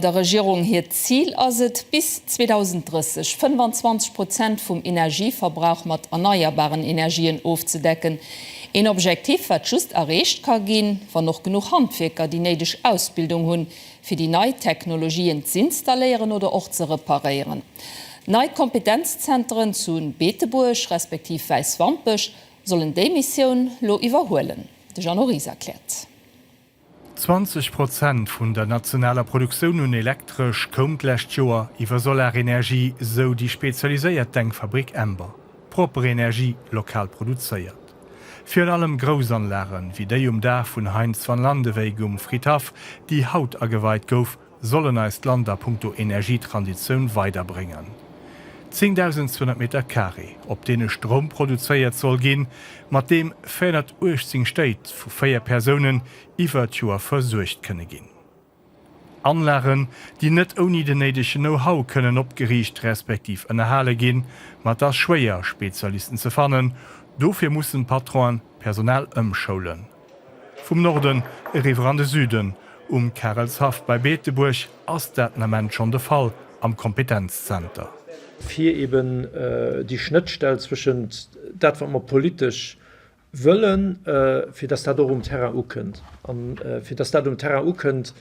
Der Regierung hiert Zil ass et, bis 2030 25 Prozent vum Energieverbrauch mat erneierbaren Energien ofzedecken. Een Objektiv, wat just erreecht ka ginn, wann och genuch Handwierker déi néideg Ausbildung hunn, fir déi nei Technologien z'installéieren oder och ze reparéieren. Nei Kompetenzzenteren zu Beetebuerg respektiv Wäiswampech sollen déi Missioun lo iwwerhuelen. De Jeannot Ries erkläert. 20 Prozent vun der nationaler Produktioun un Elektresch koum d'lescht Joer iwwer Solarenergie, sou déi spezialiséiert Denkfabrik Ember. Propper Energie, lokal produzéiert. Virun allem Groussanlagen, wéi déi um Daach vun Heinz van Landeweyck um Fridhaff, déi haut ageweit gouf, sollen eist Land a Punkto Energietransitioun weiderbréngen. 10.200 Meter Carré, op deene Stroum produzéiert soll ginn, mat deem 418 Stéit vu 4 Persounen iwwer d'Joer versuergt kënne ginn. Anlagen, déi net ouni den néidegen Know-how kënnen opgeriicht respektiv ënnerhale ginn, ma et ass schwéier, Spezialisten ze fannen. Dofir mussen d'Patronen d'Personal ëmschoulen. Vum Norden eriwwer an de Süden, Um Karelshaff bei Beetebuerg ass dat den Ament schonn de Fall am Kompetenzzenter. fir eben déi Schnëttstell zwëschent dat wat mer politesch wëllen, fir dass dat och um Terrain ukënnt. A fir dass dat um Terrain ukënnt,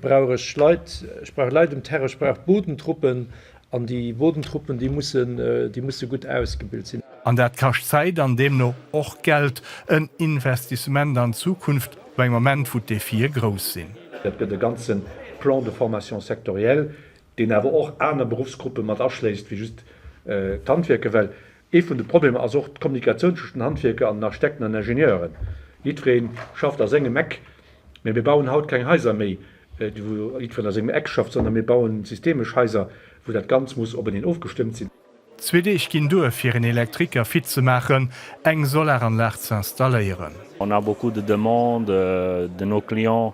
brauch ech Leit, ech brauch Leit um Terrain, ech brauch Bodentruppen, An déi Bodentruppen, déi mussen, déi musse gutt ausgebilt sinn. An dat kascht Zäit an deemno och Geld, en Investissement an d'Zukunft no engem Moment, wou d'Defie grouss sinn. Et gëtt e ganze Plan de formation sectorielle, deen awer och aner Beruffsgruppe mat aschléisst wéi just d'Handwierker, well Ee vun de Problemer ass och d'Kommunikatioun tëscht den Handwierker an den Architekten an Ingenieuren. Jiddweree schafft a sengem Eck, mä mir bauen haut keng Haiser méi, wou jiddwereen a sengem Eck schafft, sondern mir bauen systemesch Haiser, wou dat Ganz muss openeen ofgestëmmt sinn. Zwee Deeg ginn duer, fir een Elektriker fit ze maachen, eng Solaranlag ze installéieren. On a beaucoup de demandes de nos clients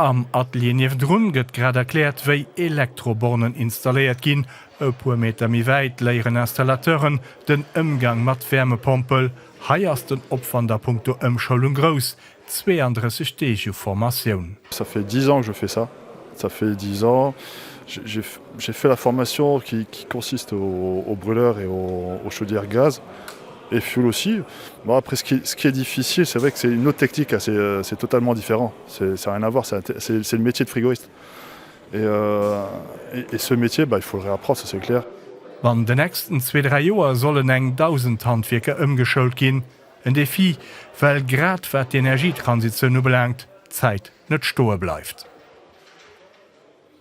Am Atelier niewendrun gëtt grad erkläert, wéi Elektrobornen installéiert ginn. E puer Meter méi wäit léieren Installateuren den Ëmgang mat Wärmepompel. Hei ass den Opwand a Punkto Ëmschoulung grouss, 32 Deeg u Formatioun. Ça fait dix ans que je fais ça, ça fait dix ans, j'ai fait la formation qui consiste au brûleur et aux chaudières gaz et fioul aussi, bon après ce qui est difficile c'est vrai que c'est une autre technique, c'est totalement différent. C'est ça rien à voir, c'est le métier de frigoiste et ce métier bah il faut le réapprendre, ça c'est clair. An de nächsten zwee, dräi Joer sollen eng Dausend Handwierker ëmgeschoult ginn. En Defi, well grad wat d'Energietransitioun ubelaangt, d'Zäit net stoe bleift.